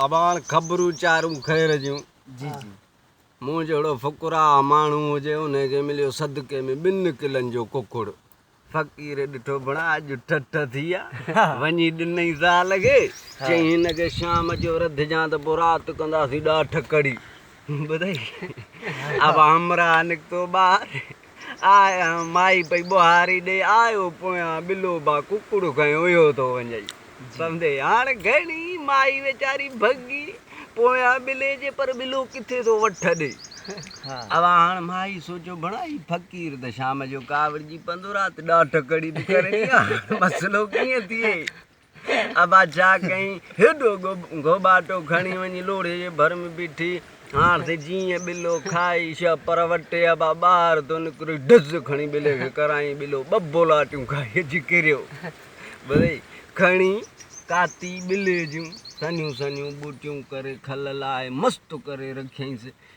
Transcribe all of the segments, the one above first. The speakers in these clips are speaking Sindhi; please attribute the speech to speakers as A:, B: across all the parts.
A: اباڻ خبرون چارون خير جون
B: مون جهڙو
A: فقراء ماڻهو هجي انهي کي مليو صدقي ۾ ٻن ڪلن جو ڪڪڙ فقير ڏٺو ڀڻا اڄ ٺٺ ٿي آ وڃي ڏنئي زال کي چئي هن کي شام جو رڌجان ته پوء رات ڪنداسين ڏاٺ ڪڙي ٻڌئي اب همراهه نڪتو ٻاهر آء مائي پئي ٻوهاري ڏي آيو پويان ٻلو با ڪڪڙ کنيو اهو ٿو وڃئي سمدي هاڻ گهڻي مائي ويچاري ڀڳي پويان ٻلي جي پر ٻلو ڪٿي ٿو وٺ ڏي اب هاڻ مائي سوچيو بڻا هي فقير ته شام جو ڪاوڙجي پندو رات ڏاٺ ڪڙي به ڪري ٿي هاڻ مسئلو ڪيئن ٿئي. ابا ڇا ڪيائين؟ هيڏو گهوٻاٽو کڻي وڃي لوڙهي جي ڀر ۾ بيٺي. هاڻ ته جيئن ٻلو کائي شهه پر وٽي ابا ٻاهر ٿو نڪري ڊز کڻي ٻلي کي ڪرايائين. ٻلو ٻه ٻولاٽيون کائي اچي ڪريو. ٻلي کڻي ڪاتي ٻلي جون سنهيون سنهيون ٻوٽيون ڪري کل لاهي مست ڪري رکيائينس.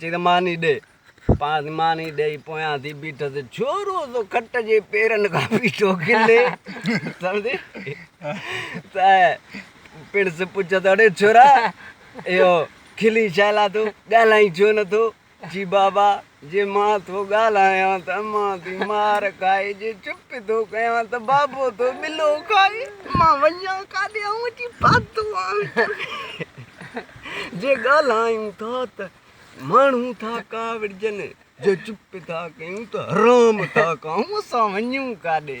A: چيس ماني ڏي. پاڻ ماني ڏيئي پويان ٿي بيٺس. ڇورو سو کٽ جي پيرن کان بيٺو کلي. سمجهي ته پڻس پڇيس اڙي ڇورا اهو کلين ڇا لا ٿو؟ ڳالهائين ڇو نه ٿو؟ چي بابا جي مان ٿو ڳالهايان ته امان ٿي مار کائي، جي چپ ٿو ڪيان ته بابو ٿو ٻلو کائي. مان وڃان ڪاڏي؟ آئون اچي پاتو آهيان. جي ڳالهايون ٿا ته ماڻهو ٿا ڪاوڙجن، جي چپ ٿا ڪيون ته حرام ٿا ڪائون، اسان وڃون ڪاڏي؟